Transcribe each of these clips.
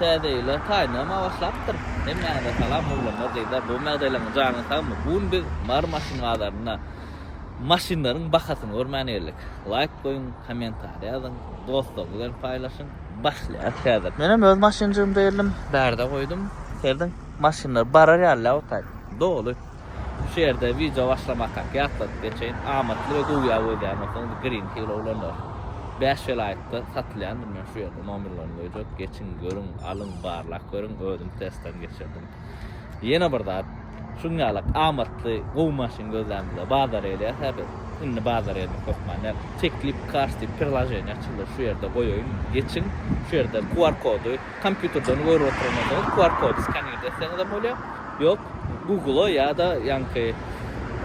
Täze ýyla saýynama başlapdyr. Hemmäňize salam oglanlar gyzlar gowy mädeleňiz janyňyz sagmy bugun biz Mary maşyn bazarynda maşynlaryň bahasyny görmän geldik laýk goýuň komentariýa ýazyň dostlaryňyz bilen paýlaşyň başlaýas häzir. Menem öz maşynjygymda geldim bärde goýdum serediň maşynlar barar ýaly lä otayt doly. Şu ýerde wideo başlamakak ýatladyp geçeýin, amatly we gowy ýag gözleýän bolsaňyz Green Hill Owlanlar bäş welaýatda satylýandyr, men şu ýerde nomerlerini goýjak, geçiň, görüň, alyň, barlap görüň, özüm testden geçirdim. Ýene bir zat, şuň ýalak amatly, gowy maşyn gözlänimizde bazara gelýäs-ä biz, indi bazara gelmek hökman däl, Teklip Cars diýip prilaženiýa açyldy, şu ýerde goýaýyn, geçiň, şu ýerde QR kody, Kompýuterden görüp oturmadyňyz, QR kody skanirde etseňizem bolýar. Ýok, Google-a ýa-da ýaňky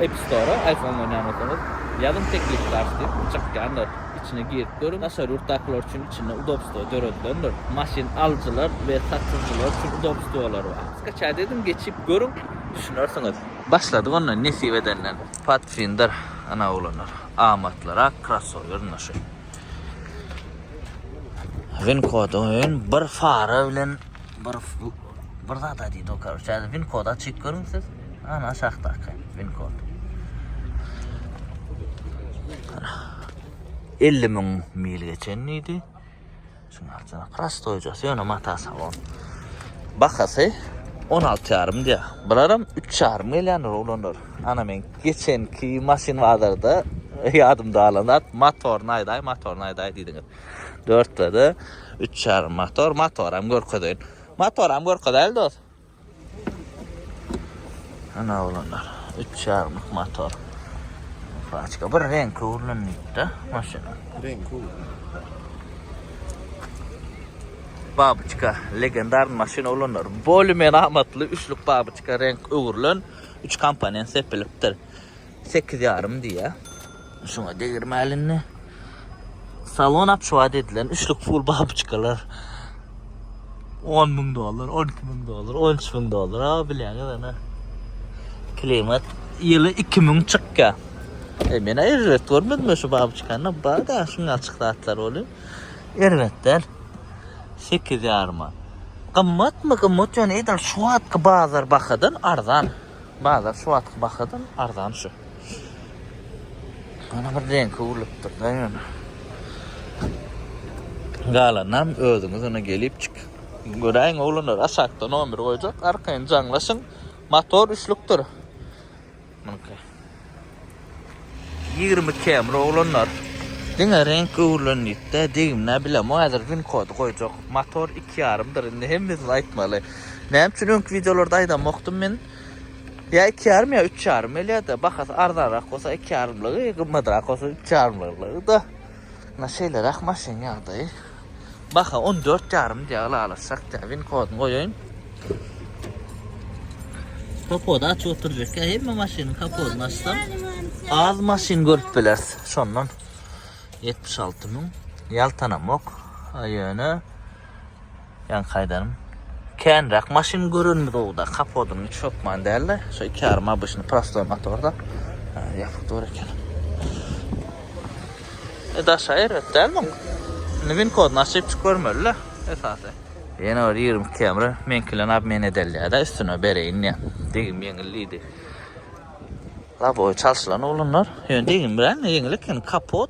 App Store-a iPhone oýnaýan bolsaňyz, ýazyň teklip karty diýip, çykýandyr. Içine girip görüň. Daşary ýurtdakylar üçin içinde udobstwo döredilendir. Maşyn alyjylar we satyjylar üçin udobstwolar bar. Skaçaýt ediň, geçip görüň, düşünersiňiz. Başladyk onda nesip edenden. Pathfinder ana oglanlar. Amatlyrak krossower ynha şu. Win kodu win bir fara bilen bir bir zat aýdy dokar. Şäde win kodu açyp görüň siz. Ana aşakda akan win kod. 50 mil geçen diýdi. Şunlardan prostoýjasy ýöne mata salon. Bahasy 16 ýarym diýýär. Bularam 3 ýarym gelýändir oglanlar. Ana men geçenki maşyn bazarda ýadymda galan zat motoryny aýdaý, motoryny aýdaý diýdiňiz. Dörtlede 3 ýarym motor, motoram görkezeýin. Motoram görkezeýli dost. Ana oglanlar, üç çagmyk motor. Façka bir renk ugrunlukda maşyn. Renk ugrun. Babiçka, legendar maşyn oglanlar. Boli men amatly üçlük babiçka renk ugrulun. Üç komponent sepilipdir. sekiz ýarym diýýär. Şuňa degirmäli indi. Salon apçuwat edilen üçlük pul babuçkalar. 10 müň dollar, 12 müň dollar, 13 müň dollar. Ha bilýäňiz ana. Klimat ýyly 2 müň çykýar. E men erbet görmedim şu babuçkany. Bada şuň açyk zatlar bolýar. Erbet däl. 8 ýaryma. Gymmatmy? Gymmat ýöne edil şu wagtky bazar bahadan arzan. Bazar şu wagtky bahadan arzan şu. Ana bir reňki urlupdyr-da ýöne. Galanynam özüňiz ine gelipçik. Göräýiň oglanlar aşakda nomer goýjak arkaýyn jaňlaşyň. Motor üçlükdir. Munyky. Ýigrimi kemir oglanlar. Diňe reňk öwrülenlikde degimlä bilemok häzir win kody goýjak. Motor iki ýarymdyr indi hemmesini aýtmaly. Näme üçin öňki wideolarda aýdamokdym men? Ýa iki ýarym ýa üç ýarym gelýärdi. Bahasy arzanrak bolsa iki ýarymlygy, gymmatrak bolsa üç ýarymlygy da. Mna şeýleräk maşyn ýagdaýy. Baha on dört ýarym diýýär ylalaşjak diýýär. Win kodyny goýaýyn. Kapody açyp oturjak. Hemme maşynyň kapodyny açsam az maşyn görüp bileris. Şondan 76 müň ýaltanamok. Ýöne Ýaňky aýdanym känräk maşyn görenimiz owda kapodyny hiç sokman dälde şo iki ýarym abyşny prostoý motorda ýapyk dur eken. E daşa erbet däl muň. Indi win kodyny açyp çyk görmelile esasy. Ýene bir ýigrimi iki ýamry meňki bilen obmen edelýädä üstüne bereýin diýen. Degim ýeňil diýdi. Labowy çalşylan ulunlar. Ýöne degim bilen ýeňil eken kapot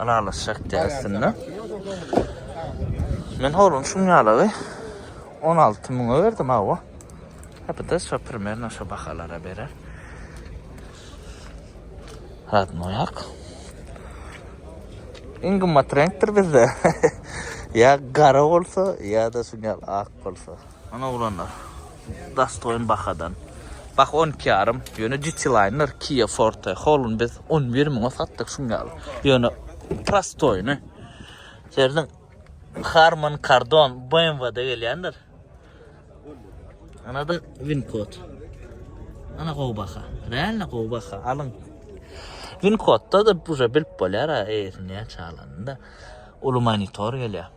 Ylalaşjak diýýär aslynda. Men horun şuň ýalygy on alty müňe berdim hawa. Hepede şo primerno şo bahalara berer. Radno ýak. Iň gymmat reňkdir bizde. Ýa gara bolsa, ýa-da şuň ýaly ak bolsa. Ana oglanlar. Dostoýn bahadan. Bah on iki ýarym. Ýöne Cityline-ler Kia Forte Hall-yny biz on bir müňe satdyk şuň ýaly. Ýöne prostoýny. Serdiň Harman Kardon BMW-de gelýändir. Anada Wincode. Ana gowy baha. Realno gowy baha. Alyň. Wincode-da da buje bilip bolýar, eýesini näçe alanynda. Uly monitor gelýär.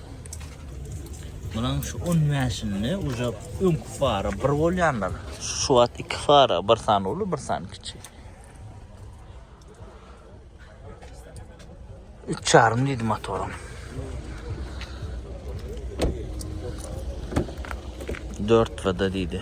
Munuň şu 10 mäşinde uca öňki fara bir bolýanlar. Şu wagt iki fara, bir sany uly, bir sany kiçi. Üç çarym diýdi motorum. Dört vada diýdi.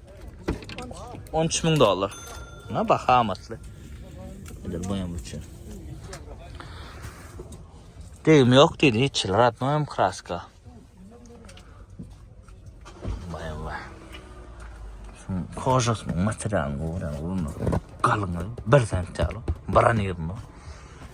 13 müň dollar. Na baha amatly. Edir boýam üçin. Degim ýok diýdi, hiç ratnoýam kraska. Baýam baý. Şuň kožasynyň materialyny görän bolmaly. Galyňy bir sentýaly, bir anýyrmy?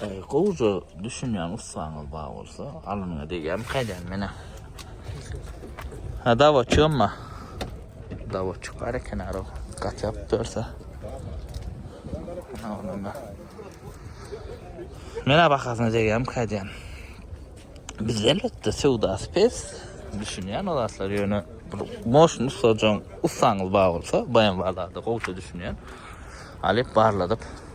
Gowja düşünýän ussaňyz bar bolsa, alnyňa degýän kaýdan menä. Ha dawa çömma. Dawa çykar eken ara. Gat ýap dörse. Onunda. Menä bakasyna degýän kaýdan. Biz elbetde söwda spes düşünýän o zatlar ýöne moşun ussajaň ussaňyz bar bolsa, baýan barlarda gowça düşünýän. Alyp barladyp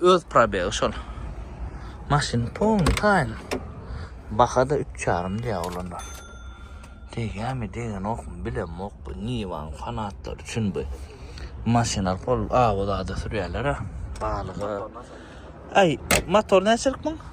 Öz probegi şol. Maşyn pon taýyn. Bahada üç ýarym diýýär olanlar. Degýärmi, degenokmy bilemok bu Niwaň fanatlary üçin bu. Maşyna pol awa zada sürýärler-ä. Balyga. Aý, motor näçelik muň?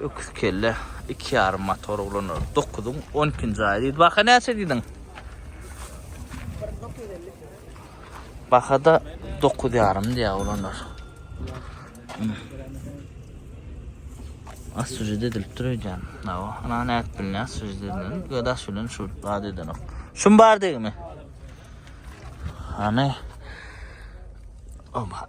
Öküz kelle iki ýarym motor ulanýar. Dokuzyň on ikinji aýy diýdi. Baha näçe diýdiň? Bahada dokuz ýarym diýýär ulanýar. Az sujede edilip dur öýdýän. Nawa, ana näp bilýär sujede edilen. Gödaş bilen şu bad edenok. Şum bar degimi? Ana. Oba.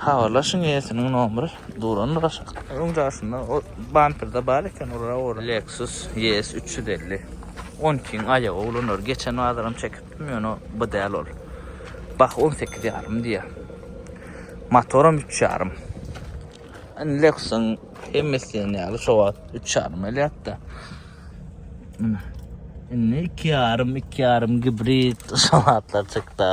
Habarlaşyň eýesiniň nomry durandyr aşak. Öň daşynda o bamperde bar eken ora ora. Lexus ES üç ýüz elli. On ikiň aýagy ulanar. Geçen bazaram çekipdim ýöne bu däl ol. Bah on sekiz ýarym diýýär. Motoram üç ýarym. Indi Lexusyň hemmesi diýen ýaly şo wagt üç ýarym elýärdi. Mine. Indi iki ýarym, iki ýarym gibrid şo wagtlar çykdy.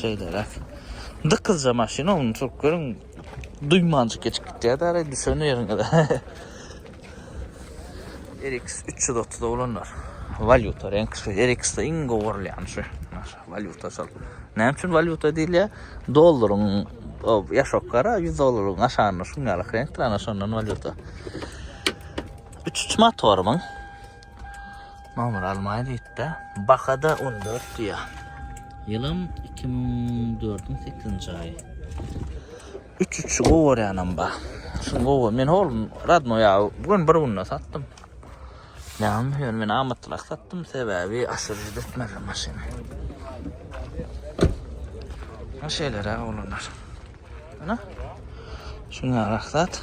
Şeýleräk. Dykyzja maşyn onuň çürk görüň. Duýmanjyk geçip gitýär däre düşen ýeriňde. RX 330 olanlar. Valyuta renk şu. RX-de iň gowy görülýän şu. Valyuta şol. Näme üçin valyuta diýilýär? Dollaryň ýaşok gara 100 dollaryň aşagynda şuň ýaly renkdir, ana şondan valyuta. 3-3 motoryň Nomer almaýa diýipdi. Bakada 14 diýýär. Ýylym 2004-iň 8-nji aýy. Üç üçi gowarýanam bar. Şu gowa men oglum radno ýa bu gün bir günde satdym. Näme ýör men amatlyrak satdym sebäbi aşyr ýetmedi maşyn. Ha şeýlere oglanlar. Ana. Şuňa rahat.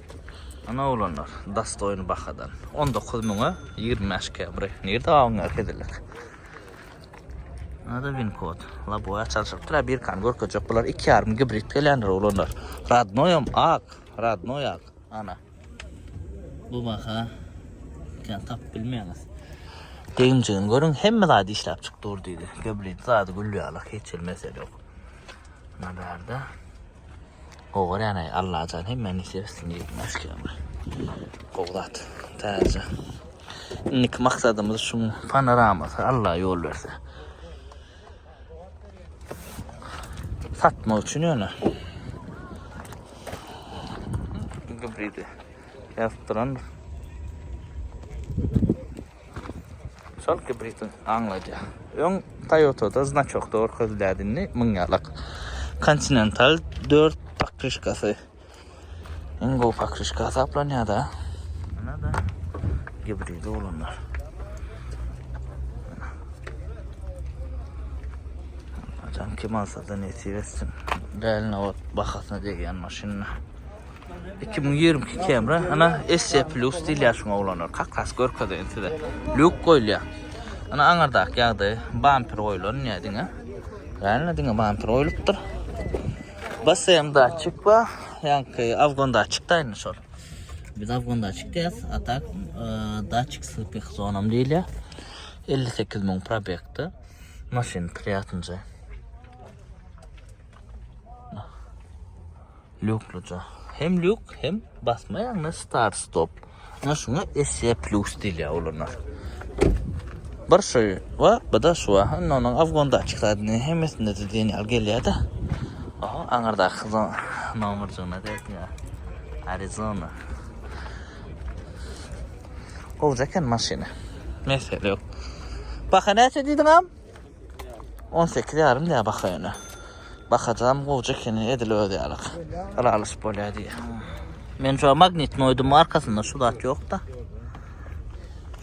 Ana oglanlar, dostoýny bahadan. On dokuz müňe ýigrimi bäş kebri. Nirde gabyň ýaly heziller? Nada win kod. Laboýa çalşyp dur, birkany görkezjek. Bular iki ýarym gibrid gelýändir oglanlar. Radnoýam ak, radnoý ak. Ana. Bu baha kän tap bilmeýäňiz. Deginjigini görüň, hemme zady işläp çyk dur diýdi. Gibrid zady gül ýaly, hiç bir mesele ýok. Nada bärde. Gowy görýäneý Allajan hemmä nesip etsin diýip mäşgäme. Gowy zat. Täze. Indiki maksadymyz şu panoramasy Allah ýol berse. Satmak üçin ýöne. Gıbridi. Yazdıran. Şol gibridin aňladýar. Öň Toyota-da znaçok görkezilýärdi, indi müň ýalak. Continental dört pakryşkasy. Iň gowy pakryşka hasaplanýar-da. Ana-da gibridi olanlar. Ajan kim alsa-da nesip etsin. Däline ot bahasyna degýän maşynlar. iki müň ýigrimi iki Camry, ana SC Plus diýilýär şuňa oglanlar. Kakras görkezeýin size. Luk goýulýar. Ana aňyrdaky ýagdaýy bamper goýulan ýa diňe. Ýa diňe bamper goýlupdyr. BSM datçik bar. Ýaňky afgon datçik da indi şol. Biz afgon datçik diýýäs. A tak e, datçik slipik zonam diýilýär. 58 müň probekti. Maşyn priýatynja. Lukluja. Hem luk hem basmaýaňda start stop. Ana şuňa SE plus diýilýär olana. Bir şu we bir de şu aha onuň afgonda açykladýny hemmesinde de diýen ýaly gelýär-de. Aha aňyrda hyzon nomerjygyna degýär. Arizona. Gowja eken maşyna. Mesele ýok. Baha näçe diýdiňem? On sekiz ýarym diýýär baka ýöne. Bakajam gowja ekeni, edil öz ýalyk. Ylalaşyp bolýar diýýär. Men şu magnit noýdum arkasynda şu zat ýok-da.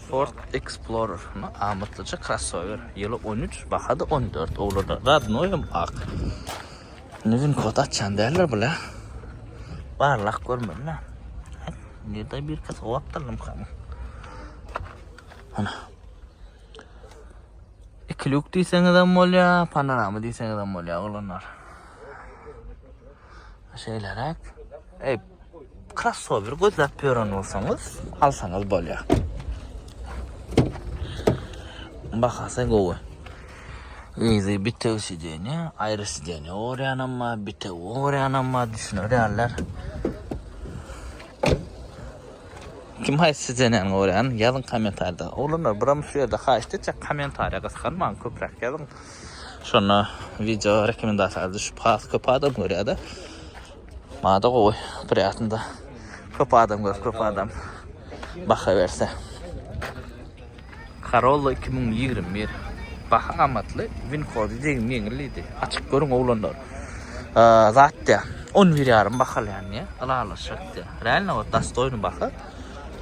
Ford Explorer, no, amatlyja krossower. Ýyly on üç, baha-da on dört. Owlada radnoý hem ak. Indi win kod açýan däldir bile. Barlak görmeli-le. Nirde birki sowapdyrlymkam. Ana. İki lük diýseňiz hem bolýar, panorama diýseňiz hem bolýar oglanlar. Şeýleräk. Ey, krossower gözläp ýören bolsaňyz, alsaňyz bolýar. Bahasy gowy. Easy bitew sideniýe, aýry sideniýe ogurýanam bar, bitew ogurýanam bar, düşünerýärler. Kim haýsy zenany görýän ýazyň komentarda. Oglanlar buram şu ýerde haýyşt etjek komentariýa gysganmaň köpräk ýazyň şonda wideo rekomendasiýalara düşüp has köp adam görýärde maňada gowy priýatno köp adam görüp köp adam baha berse. Corolla iki müň ýigrimi bir Baha amatly, win kody degim ýeňil diýdi. Açyk görüň oglanlar. Zat dä. On bir ýarym bahalýan diýä. Ylalaşak diýä. Realno ot dastoýny baha.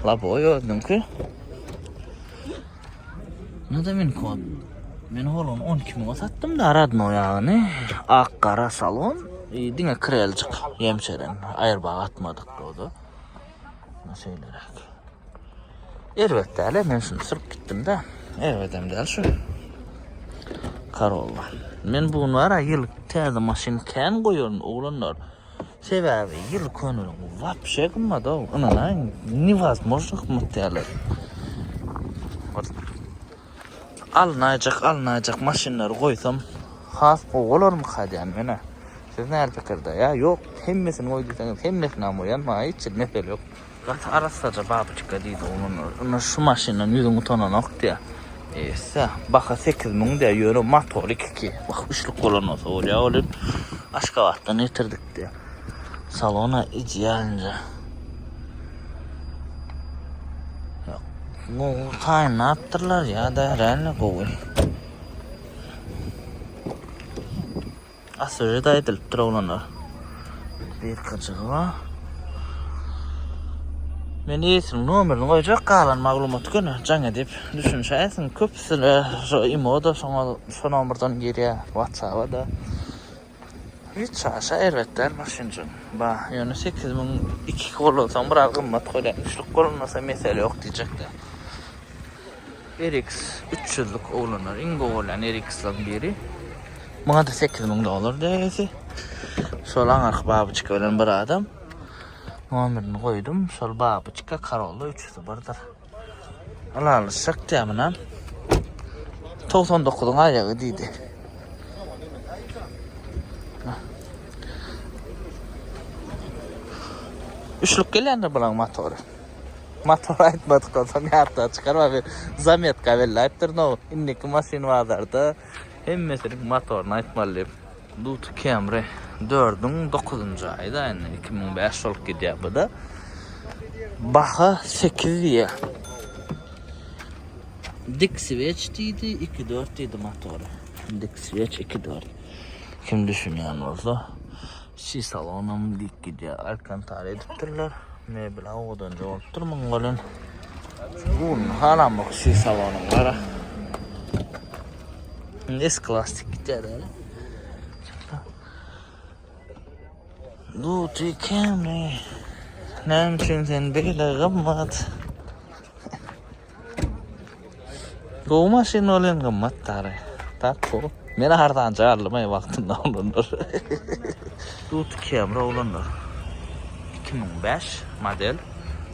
Laboy özüniňki. Nada win kod. Men oglun on iki müňe satdym da radno ýagyny. Ak gara salon. Diňe kreljik ýemçeren. Aýrbag atmadyk doda. Şeýleräk. Erbet däle men şuny syryp gitdimde. Erbedem däl şu. Karolla. Men bu nara ýyl täze maşyn kän goýaryn oglanlar. Sebäbi ýyl könelik wapşe gymmat o. Ynanaýyň, niwazmožno gymmat däldir. Alnaýjak alnaýjak maşynlary goýsam has gowy bolarmyka diýýän menä. Siz näme pikirde? Ýa ýok hemmesini goý diýseňiz hemmesinam goýan maňa hiç hili mesele ýok. Gaty arassaja babyçka diýdi oglanlar. Ynha şu maşyndan ýüzüň utananok diýýär. Ýa baha sekiz müň diýýär ýöne motory iki iki. Wah üçlük bolan bolsa bolýa welin Aşgabatdan getirdik diýýär. Salona idealnje. Gowy taýynlapdyrlar ya da reально gowy. Asyrjy da aýdylypdyr oglanlar. Bir kaçığı var. Men eýesiniň nomerini goýjak galan maglumaty göni jaň edip düşünşäýsin. Köpüsine şu imo-da şoňa şu nomerden girýär WhatsApp-a da. Hiç çaşa erbet däl maşynjyk. Ba, ýöne sekiz müň iki gollansaň biraz gymmat bolýar. Üçlük gollanasa mesele ýok diýjekdä. RX üç ýüzlük oglanlar iň gowy bolýan RX-laryň biri. Muňa-da sekiz müň dollar degesi. Şol aňyrky babyçka bilen bir adam. Nomerini goýdum. Şol babyçka Corolla üç ýüzi birdir. Ylaly şykdy muna. 99-yň aýagy diýdi. Üçlük gelende bulan motory. Motor aýtmadyk bolsaň ýarta çykar we zametka belläpdir no. Indiki maşyn bazarda hemmesiniň motoryny aýtmaly diýip. Duty Camry dördüň dokuzynjy aýda indi iki müň bäş ýüz bolup gidýär bu-da. Baha sekiz diýýär. Dik switch diýdi, iki dört diýdi motory. Dik switch iki dört. Kim düşünýän bolsa, çi salonam dik gidýär. Alkantar edipdirler. Mebel awadanja bolupdyr muň welin. Gurny halamok çi salonyň gara. Nes klasik gitar yani. Duty Camry. Näme üçin sen beýle gymmat? Gowy maşyn bolan gymmat tary. Tak bu. Men hardan jarlym ay wagtynda olanlar. Duty Camry olanlar. 2005 model.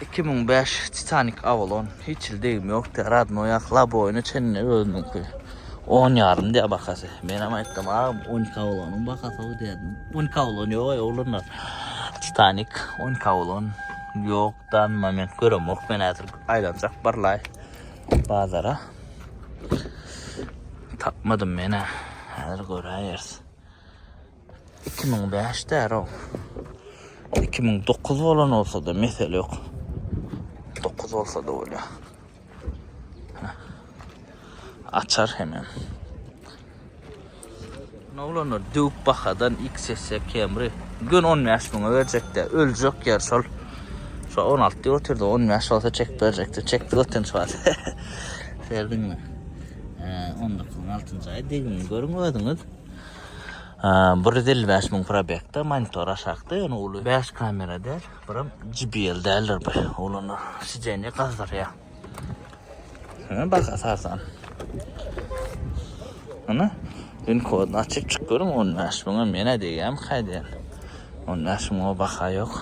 Iki müň bäş Titanik Avalon hiç il degim ýokdy. Radno ýak Laboýny çenli özüniňki. On ýarym diýä bahasy. Men hem aýtdym, agam, on iki Avalonyň bahasy o diýdim. On iki Avalon ýok aý oglanlar. Titanik, on iki Avalon ýok dan moment göremok. Men häzir aýlanjak barlaý bazara. Tapmadym men-ä. Häzir göräýeris. Iki müň bäş däro. Iki müň dokuz bolan bolsa-da mesele ýok. Dokuz bolsa-da bolýar. Açar hemem. Ne olanlar döwüp bahadan XS Camry. Gün 15 müňe berjekdi. Öljek yer şol. Şu 16 diýip otyrdy. 15 olsa çek berjekdi. Çekdi götün şu wagt. Serdinmi? 19-nyň 6-njy aýy degini görüň özüňiz. bir ýüz elli bäş müň probegde monitor aşakda ýöne uly bäş kamera däl biram jbl däldir bu ulana sidenýe gazdyrýa Hä bak asasan Ana din kodunu açyp çyk görüm on bäş müňe menä degýämi kaýdýan on bäş müňe baha ýok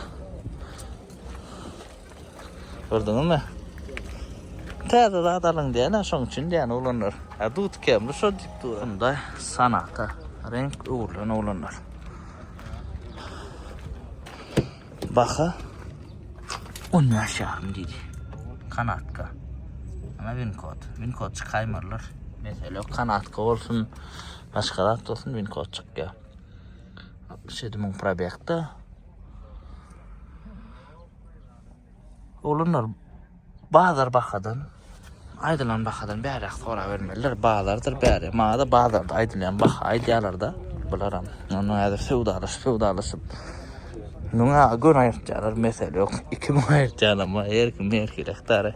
Gördüňiz mi? Täze zat alyň diýen, şoň üçin diýen oglanlar. Ha dut kemli şo diýip dur. Şunda sanata renk öwrülen oglanlar. Baha 15 ýarym diýdi. Kanatka. Ana winkod. Winkod çykaýmarlar. Mesele kanatka bolsun, başga zat bolsun winkod çykýar. 67 müň probekde. Olanlar bazar bakadan aýdylan bakadan bäräk sorap bermeliler. Bazardyr bäri. Maňada bazarda aýdylýan baha aýdýarlar-da bularam. Onda häzir söwdalaşyp, söwdalaşyp. Müňe gön aýyrtýarlar, mesele ýok. Iki müň aýyrtýanam bar, her kim her kirekdary.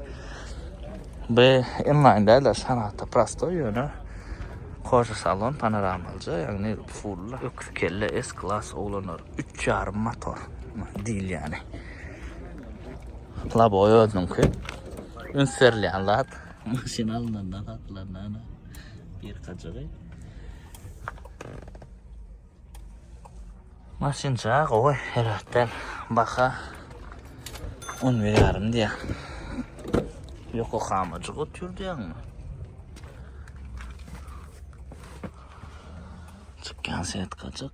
Bu inlaýn däl-de, sanatda prostoý ýöne Koža salon panoramalyja, ýagny full öküz kelle, S-klass oglanlar. üç ýarym motor diýilýäni. Laboy özüniňki. Üns berilýän zat. Maşyn alynanda satylanda ana bir kajygy. Maşynça gowy herhatdan baka on bir ýarym diýýär. Yokohamajyk otur diýýäňmi? Çykýan setkajyk.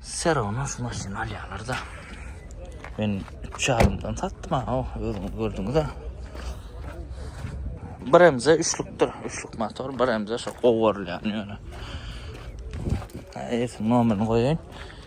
Serona şu maşyny alýarlar da. Men 3 ýarymdan satdym ha, oh, özüňiz gördüňiz-ä. Bir emze üçlükdir, üçlük motor, bir emze şu gowurylýan ýöne. Eýsem nomerini goýaýyn.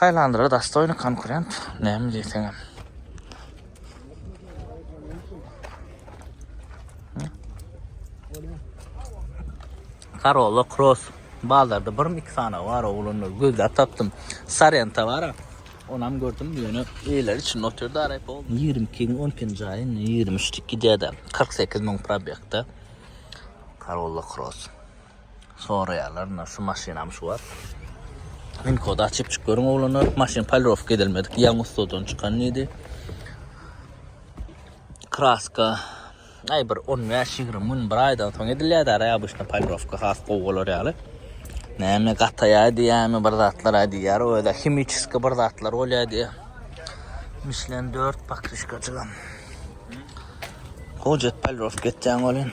Hylandra dostoýny konkurent näme diýseňem. Karola Cross bazarda bir iki sany bar oglanlar gözläp tapdym. Sarenta bar. Onam gördüm ýöne eýler üçin otyrda aryp oldu. 22 iň 10 pin jaýy 23 tik gidýärdi. 48 mün probekda. Karola Cross. Soraýarlar, ynha şu maşynam şu wagt. Win kody açyp çyk görüň oglanlar. Maşyn polirowka edilmedik, ýaňy ustadan çykan diýdi. Kraska aý bir 15-20 gün, bir aýdan soň edilýärdi, ara obýşna polirowka has gowy bolar ýaly. Näme gataýar diýýärmi, bir zatlar aý diýýär, o ýerde himiçeski bir zatlar bolýar diýýär. Michelin 4 pakrişkajygam. Gojet polirowka etjäň welin.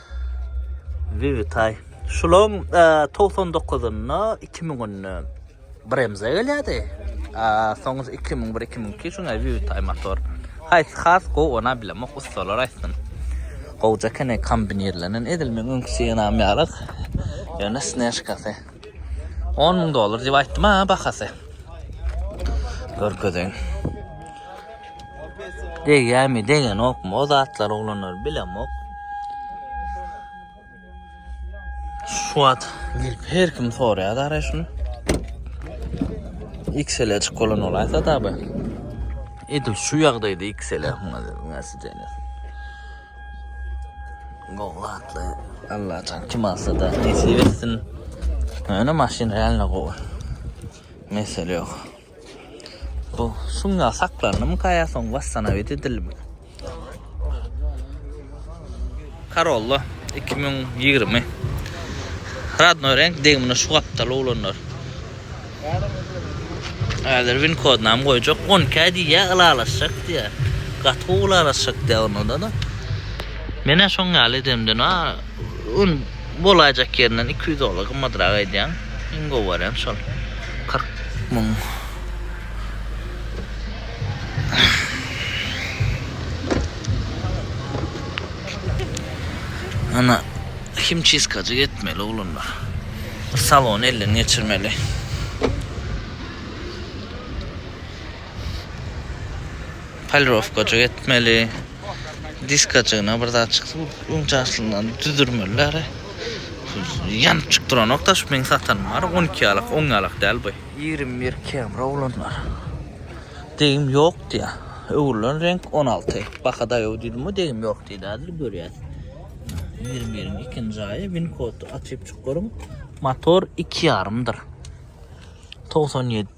Wwitaý. Şulaň togsan dokuzynda, iki müňünde bir MZ gelýärdi. Soň iki müň bir, iki müň iki şuňa Wwitaý motor. Haýsy has gowy, onam bilemok, ussalar aýtsyn. Gowja eken kombinirlenen, edil meň öňki Sienam ýaly, ýöne snežkasy. On müň dollar diýip aýtdym-a bahasy. Görkezeýin. Degýärmi, degenokmy, o zatlar oglanlar bilemok. Şu wagt girip her kim soraýar dara şuny. XL açyk bolan olaýsa tabi. Edil şu ýagdaýda XL nasip eýlesin. Gowlatly. Allah can kim alsa da nesip etsin. Öne maşyn realno gowy. Mesele yok. Bu sungat saklandymyka ýa soň wassanawid edildimi? Corolla 2020. Radnoý renk degimine şu gapdaly oglanlar. Häzir win kodynam goýjak. 12 aý diýýä, ylalaşjak diýýä. Gaty gowy ylalaşjak diýýä onda-da. Menä şoň ýaly edemden a. Un bolaýjak ýerinden iki ýüz dollar gymmadrak aýdýaň. Iň gowy wariant şol. Kyrk müň. Ana, himçistkajyk etmeli oglanlar. Salony elden geçirmeli. Polirowkajyk etmeli. Diskajygyna bir zat çyksa, öňçe aslyndan düzürmeliler. Ýanyp çyk duranok da, şu meň satanym bar, 12 ýalak, 10 ýalak däl bu. 21 kemri oglanlar. Degim ýok diýä. Öwrülen reňk 16. Baka daýaw diýdim, degim ýok diýdi, häzir görýäs. 21-iň ikinji aýy, win kod açyp çyk görüň. Motor 2,5-dyr. 97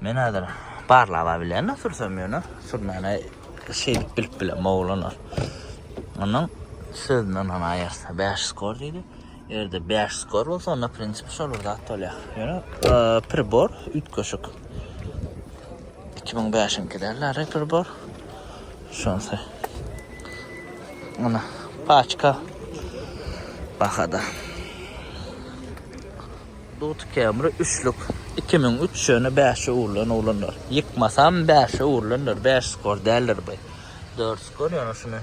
Men hazır barlaba bilen sürsem ýöne sürmäne şeýdip bilip bilen oglan ol. Onuň sözünden hana aýarsa 5 skor diýdi. Erde 5 skor bolsa onda prinsip şol bir zat bolýar. Ýöne pribor üýtgeşik. 2005-nki derler pribor. Şonsa. Ana paçka bahada. Dut kemri üçlük, iki müň üç ýöne bäşe urlan oglanlar. Ýykmasam bäşe urlandyr, bäş skor däldir bu. Dört skor ýöne şuny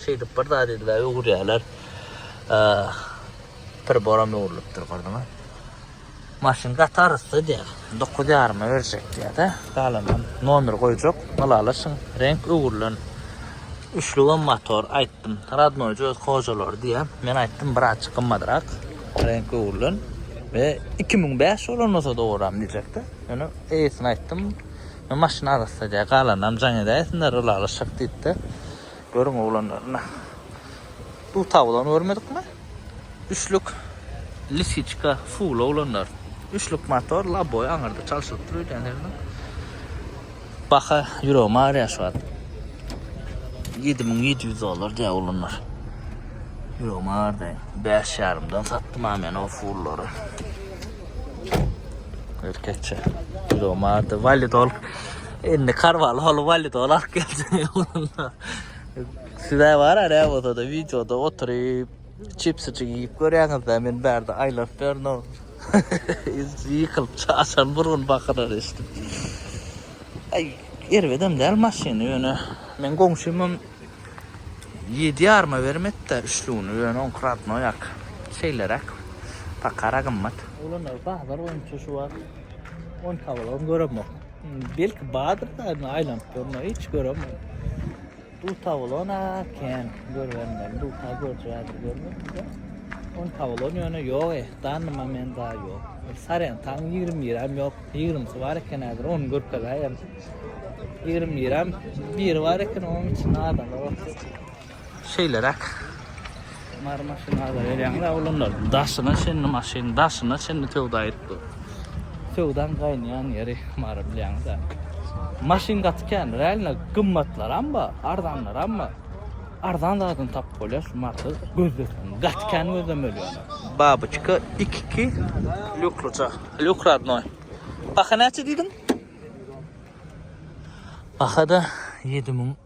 şeýdip bir zat edibä öwürýäler. Priboram öwrülipdir gördüňiz. Maşyn gaty arassa diýýä. Dokuz ýaryma berjek diýýä-de, galanam nomer goýjak. Ylalaşyň, reňk öwrülen. Üçlügem motor aýtdym. Radnoý öz hojalary diýýä. Men aýtdym, birazjyk gymmadrak. Reňk öwrülen we iki müň bäş bolan bolsa dowaram diýjekdi. Ýöne eýesine aýtdym. Men maşyn arassa diýýär. Galanam jaň edäýsinler, ylalaşak diýipdi. Görüň oglanlaryna. Bu tabulany görmedikmi? Üçlük lisiçka full oglanlar. Üçlük motor, laboý aňyrda çalşylyp dur öýdýän ýerinden. Baha ýüregimi arýar şu wagt. 7700 dollar diýýär olanlar. Ýüregim ardy. 5 ýarymdan satdym ha men o fullary. Erkekçe. Ýüregim ardy. Validol. Indi karwaly hol validol alyp geldim. Size var ara o da videoda oturyp Çipsijik iýip görýäňiz-dä, men bärde aýlap berdin-ow. Ýykylyp çaşan burgun bakyrary eşidip. Aý, erbedem däl maşyny ýöne. Meň goňşymam ýedi ýaryma berim etdi-de üçlügini, ýöne oňky radnoý ak. Şeýleräk. Pakara gymmat. Oglanlar bazar boýunça şu wagt on tabalaryny göremok. Belki bardyr-da, aýlanyp görme, hiç göremok. Bu tawlona ken görmeden bu ta görjädir görmeden. On tawlon ýöne ýok ehdan nima men da ýok. Saren taň 20 gram ýok. 20 si bar eken häzir on görkezä ýa. 20 gram bir bar eken on içinde adam ýok. Şeýleräk. Mary maşyn ala gelýäňiz oglanlar. Daşyna çenli maşyn, daşyna çenli söwda etdi. Söwdan gaýnaýan ýeri Mary bilýäňiz-ä. Maşyn gaty kän, realno gymmatlaram bar, arzanlaram bar. Arzan zadyny tapyp bolýar şu Maryda gözleseň. Gaty kän gözlemeli ýöne. Babuçka ikiki lukluca. Luk radnoý. Baha näçe diýdiň? Baha-da 7000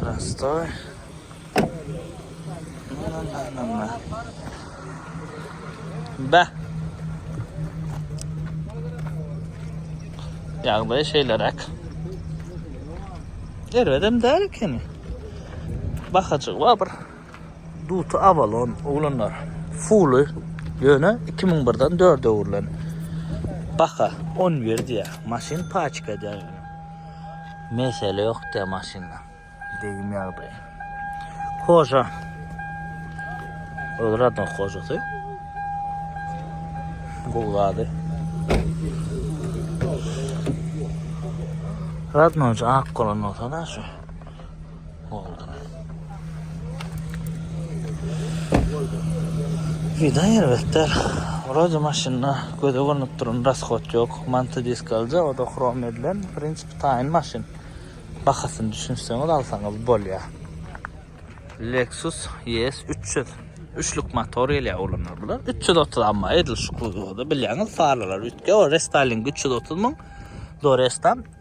Prostoy. Beh. Ýagdaý şeýleräk. Erbedem däl ekeni. Bahajygy bar bir. Duty Avalon oglanlar. Fully ýöne 2001-den 4-e öwrülen. Baha 11 diýýär. Maşyn paçka edýär. Mesele yok de maşynda. Degim ýagdaýy. Hoja. Öl radon hojasy. Gowlady. Radoncu ak golan olsa da şu. Vida erbetdir. Wroje maşynda göze görnüp duran raskot ýok. Manta disk alja, o-da hrom edilen. W prinsipi taýyn maşyn. Bahasyny düşünseňiz alsaňyz bolýar. Lexus ES 300. Üçlük motor gelýär ulanyr bular. 330 amma edil şu kuzowda bilýäňiz farlar üýtge o restyling 330 müň. Do restam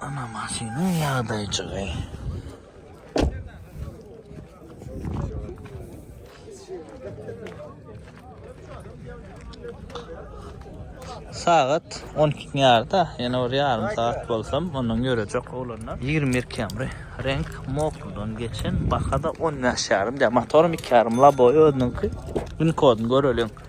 Ana maşynyň ýagdaýjygy. Sagat 12 ýarda, ýene bir ýarym saat bolsam, ondan ýörejek oglanlar. 21 kemri. Renk mokludan geçen, bahada 15 ýarym diýýär. Motorum 2 ýarym, laboý özüniňki. Gün koduny göreliň.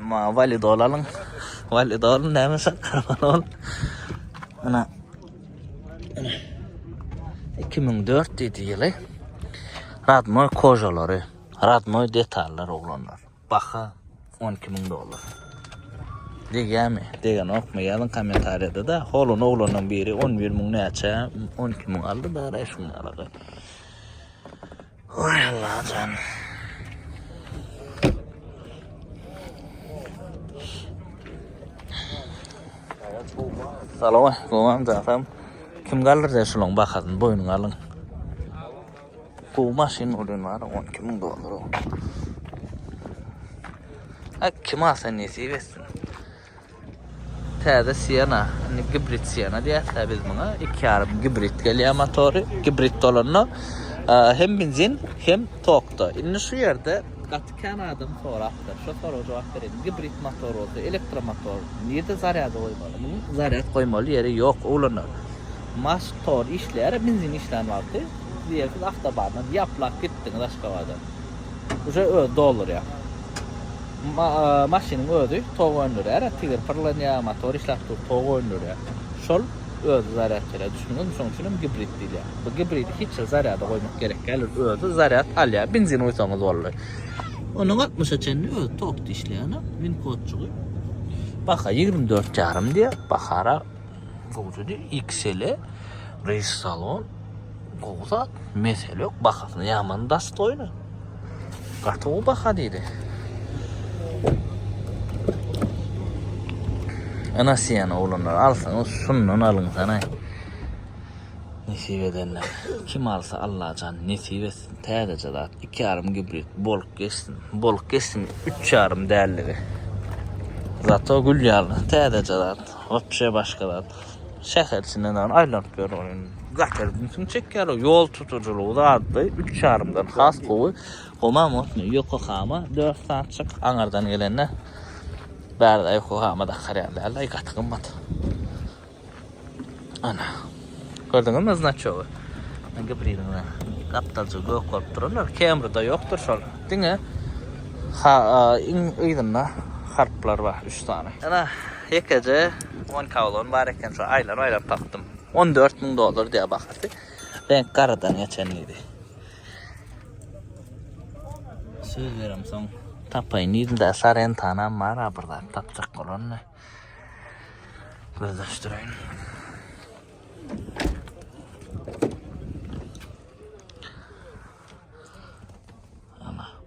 Ma validol alyň. Validol näme şakgarman ol. Ana. 2004 diýdi ýyly. Radmoy kojalary, radmoy detallar oglanlar. Baha 12 ming dollar. Degýärmi? Degen okma ýazyň kommentariýada da. Holun oglanyň biri 11 ming näçe, 12 ming aldy, bäri şuňa alady. Oy Allajan. Salama, gowam zatam. Kim galdyr de şulan bakasyn boýnuň alyn. Gow maşyn bolýan bar, 12 müň dollar. Ak kim alsa nesip etsin. Täze Siena, indi gibrid Siena diýäs-dä biz muňa. 2,5 gibrid gelýär motory. Gibrid bolanda hem benzin, hem tokda. Indi şu ýerde gaty kän adam sorapdyr. Şo soraga jogap bereýin. Gibrid motor bolsa, elektromotor nirde zarýada goýmaly? Munuň zarýad goýmaly ýeri ýok, uglana. Motor işleýär-ä benzin işlän wagty. Diýeýik, siz awtobandan ýaplap gitdiňiz Aşgabada. Uje özi doldurýar. Maşynyň özi tok öndürýär, tigir pyrlanýar, motor işläp dur, tok öndürýär. Şol özi zarýad berýär. Düşündiňizmi? Şonuň üçin hem gibrid diýilýär. Bu gibridi hiç hili zarýada goýmak gerek däl, ol özi zarýad alýar, benzin guýsaňyz boldy. Onuň altmyşa çenli özi tokda işleýän win kodjygy. Baha ýigrimi dört ýarym diýýär. Bahara gowudydy, XL-e, reýs salon. Gowy zat, mesele ýok, bahasyna ýaman dostoýny. Gaty gowy baha diýdi. Ana siýen oglanlar alsaňyz şundan alyň sanaý. Nesip edenler. Kim alsa Allajan nesip etsin. Täzeje zat. 2,5 gibrid. Bolup geçsin. Bolup geçsin 3,5 däldigi. Zato gül ýaly täzeje zat. Wapşe başga zat. şäher içinden dagyn aýlanyp ýörler. Gatar ünsüňi çekýärler. Ýol tutujylygy zatda üç ýarymdan has gowy. Homa motny Ýokokama dört saatçyk aňardan gelende bärde Ýokokama dakar ýaly däl daýy gaty gymmat. Ana. Gördüňizmi znaçogy? Gibriliňde gapdalja gök bolup duranlar Camry-da ýokdur şol. Diňe ha iň yzynda harplar bar üç sany. Ana Ýekeje on kawlony bar eken, şo aýlap-aýlap tapdym. On dört müň dollar diýýär bahasy. Reňk garadan geçen diýdi. Söz berem soň tapaýyn diýdim-de, sarentanam bar-a bir zat tapjak bolanda. Gözleşdireýin.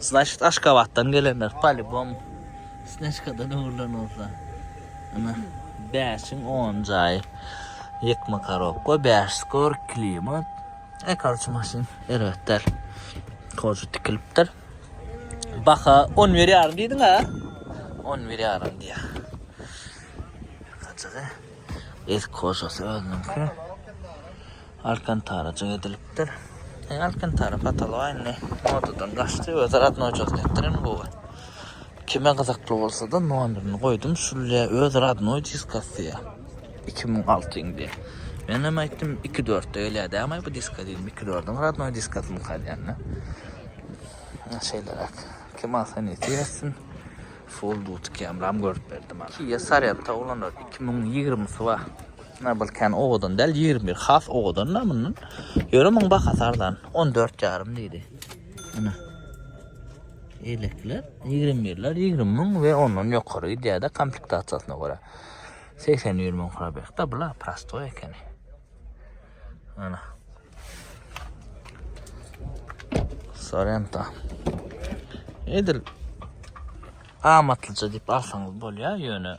Значit Aşgabatdan gelenler polibom Snejkadan öwrülen bolsa. Ana 5-iň 10 jaýy ýykma korobka, 5 skor, klimat. E karçy maşyn erbet däl. Kozu tikilipdir. Baha 11 ýarym diýdiň ha? 11 ýarym diýýär. Kaçaga? Ez koşasy özüniňki. Alkantarajyk edilipdir. Eý Alkantara patolog indi modadan gaçdy öz radnoýjygyny etdir indi bu gyz. Kime gyzykly bolsada nomerini goýdum şulya öz radnoý diskasiýa iki müň alty indi. Menem aýtdym iki dörtde gelýä dämaý bu diska diýdim iki dördiň radnoý diskasymyka diýende. Şeýleräk kim alsa nesip etsin. Full dutky hem ram görüp berdi maňa. Kia Sorento ulanarys iki müň ýigrimisy bar. Ýa bir kän owadan däl, ýigrimi bir has owadan-da mundan. Ýöne muň bahasy arzan, on dört ýarym diýdi. Ine. Ýelekler, ýigrimi birler, ýigrimi müň we ondan ýokary gidýär-de komplektasiýasyna görä. Segsen bir müň probeg-de bula, prostoý ekeni. Ana. Sorento. Edil amatlyja diýip alsaňyz bolýar, ýöne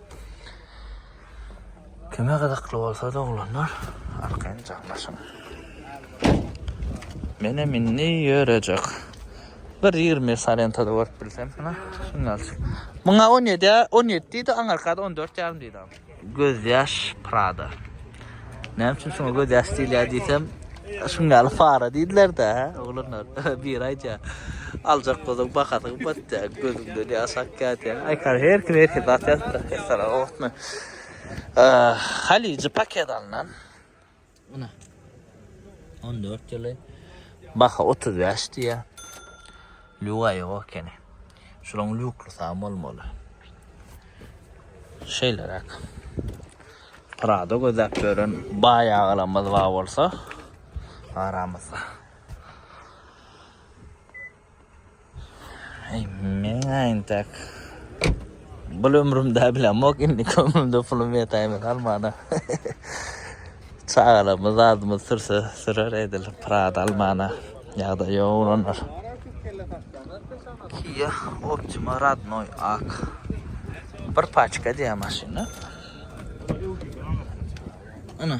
Kime gyzykly bolsa doglanlar arkaýynjam başyň. Menem indi ýörejek. Bir ýigrimi salentada görüp bilsem hana şunda alşyp. Muňa on ýedi on ýedi diýdi aňarka on dört ýarym diýdi. Gözýaş Prada. Näme üçin şuňa göz ýaş diýilýär diýsem, şuň ýaly para diýdiler-dä, hä, oglanlar. Biri aýdýar, aljak bolsaň bahasy gymmat diýýär, gözüňden ýaş akýar diýýär. Aýkar, her kim her hili zat ýazypdyr, hessara gowatmy. Halyjy paket alnan. Ine. 14 ýyly. Baha 35 diýýär. Lüga ýok ekeni. Şulaň lüklysam bolmaly. Şeýleräk. Prado gözläp ýören baý agalarymyz bar bolsa aramyzda. Ey, men aýntak. Bul ömrümde bilemok indi kömrümde pulum ýetäýmez almana. Çagalarymyz zadymyz sürse sürer edil Prada almana. Ýagdaý ýok oglanlar. Kia Optima Radnoy ak. Bir paçka diýýär maşyna. Ana.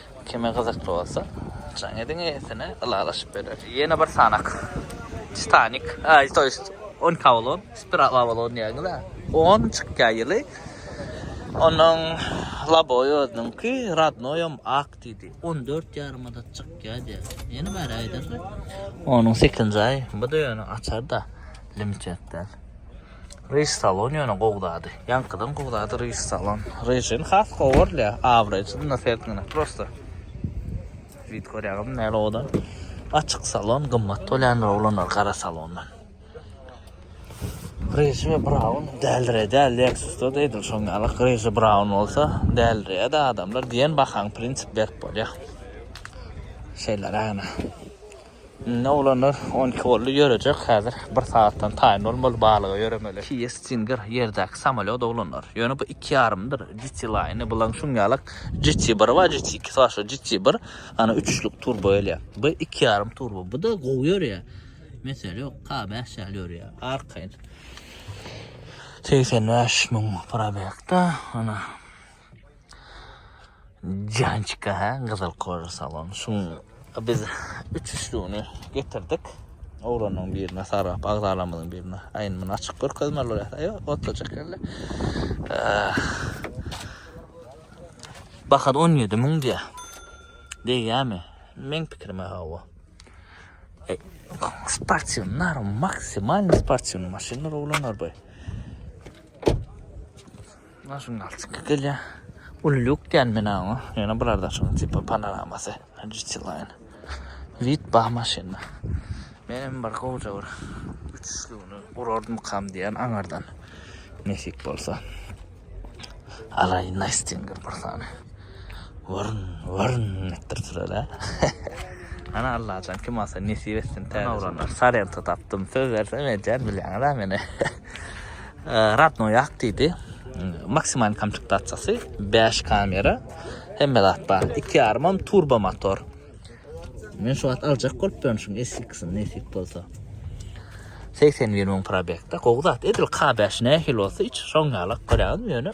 Kime gyzykly bolsa, jaň ediň eýesine, ylalaşyp berer. Ýene bir sanak. Titanik. Aý, to ýest, on Avalon, Spiral Avalon diýýäňiz-ä. On çykýa ýyly. Onuň laboýy özüniňki, rodnoýam ak diýdi. On dört ýarymada çykýa diýýä. Ýene bäri aýdardy. Onuň sekinji aýy. Bu-da ýöne açar-da, limit ýetmez. Reis salon ýöne gowy zady. Ýaňkydan gowy zady reis salon. Rejini has gowy görle. Abraýjy dynda sertgine prosta. Wid görýäňizmi näle oda. Açyk salon gymmat toländir oglanlar gara salondan. Reji we braun däldirä däl leksusda da edil şoň ýaly reji braun bolsa däldirä da adamlar diýen bahaň prinsip berip bolýa. Şeýle räne. Indi oglanlar on iki boldy, ýörejek häzir. Bir sagatdan taýyn bolmaly, balyga ýöremeli. Kia Stinger ýerdäki samolýot oglanlar. Ýöne bu iki ýarymdyr, GT Line, bulaň şuň ýalak GT biri bar, GT ikisi bar, şu GT bir, ana üçlük turbo gelýär. Bu iki ýarym turbo, bu-da gowy ýörýär. Mesele ýok, K bäş ýaly ýörýär, arkaýyn. Segsen bäş müň probegda, ana. Jançka hä gyzyl koja salon şuň biz üçüsligini getirdik oglanyň birine sarap agzalarymyzyň birine aýn muny açyk görkezmeli bolýas aýo otujak ýaly bahasy on ýedi müň diýýä degýämi meň pikirime hawa sportiw nary maksimalny sportiwny maşynlar oglanlar boý. Maşyn galçyk gelýär. Uly lýuk diýýän men oňa. Ýöne bular daşyň tipa panoramasy. GT Line. Wid bar maşynda. Menem bir gowja bir uçuşlygyny gurardymykam diýýän aňyrdan. Nesip bolsa. Alaýyn Aýstinger bir sany. Wyrn, wyrn etdirip süreli. Ana Allajan kim alsa nesip etsin täze. Sorento tapdym. Söz bersem edýän bilýäňiz-ä meni. Radnoý ak diýdi. Maksimal komplektasiýasy 5 kamera. Hemme zat bar. 2,5 turbo motor. Men şu wagt aljak bolup durýan şu SX-ni nesip bolsa. 81 müň probekde. Gowy zat. Edil K5 nähili bolsa hiç şoň ýalak görýäňizmi ýöne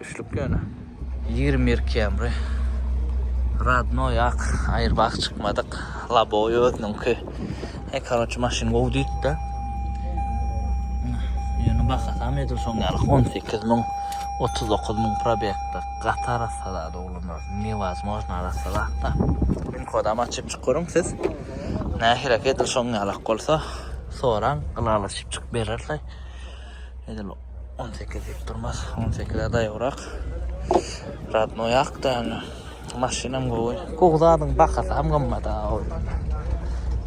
Üçlük ýöne. Ýigrimi bir Camry. Radnoý ak Airbag çykmadyk. Laboý özüniňki. He karoçe maşyn gowy diýipdi. Ýöne bahasam edil şoň ýaly on sekiz müň, otuz dokuz müň probegde gaty arassalady oglanlar. Newazmojno arassalakda. Pin kodam açyp çyk görüň siz. Nähilek edil şoň ýalak bolsa soraň ylalaşyp çyk bererler. Edil 18 diýip durmaz. 18-e daýabrak. Radnoý akda ýöne. Maşynam gowy. Gowy zadyň bahasy hem gymmat-a ol.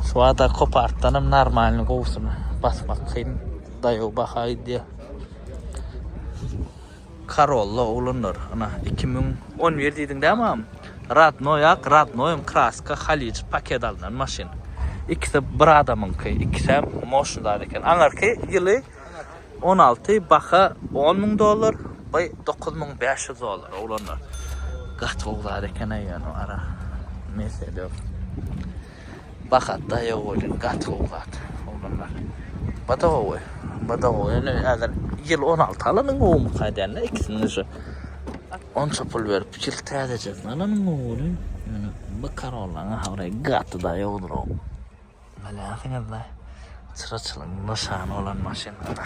Şu wagta kopartdan hem normalny gowusyny basmak kyn. Daýaw baha gidýär. Karolla oglanlar yna iki müň on bir diýdiň dä mam radnoý ak radnoýam kraska halyç paket alnan maşyn ikisi bir adamyňky ikisem moşyn zat eken aňyrky ýyly on alty baha on müň dollar by dokuz müň bäş ýüz dollar oglanlar gaty gowy zat ekeneý ýöne ara mesedeok. Bahar daýaw bolýar gaty gowy zat oglanlar. Bada gowy. Bada gowy. Ýöne häzir ýyl on alty alanyň gowumyka aýdanda ikisini şu onça pul berip ýyl täzejesini alanyň gowudyr. Ýöne bu Corolla ahabre gaty daýawdyr o. Bilýänsiňizde çyraçylygyň nyşany bolan maşynlary.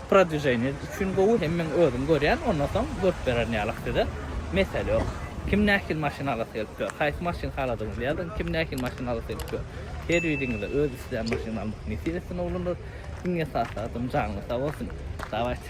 Prodwijeniýe üçin gowy hem men özüm görýän ondan soň görüp bererin ýalak size mesele ýok. Kim nähili maşyn alasy gelip ýör haýsy maşyn haladygyňyzy ýazyň kim nähili maşyn alasy gelip ýör her biriňize öz islän maşynyny almak nesip etsin oglanlar iň esasy zadam janyňyz sag bolsun dawaýçy.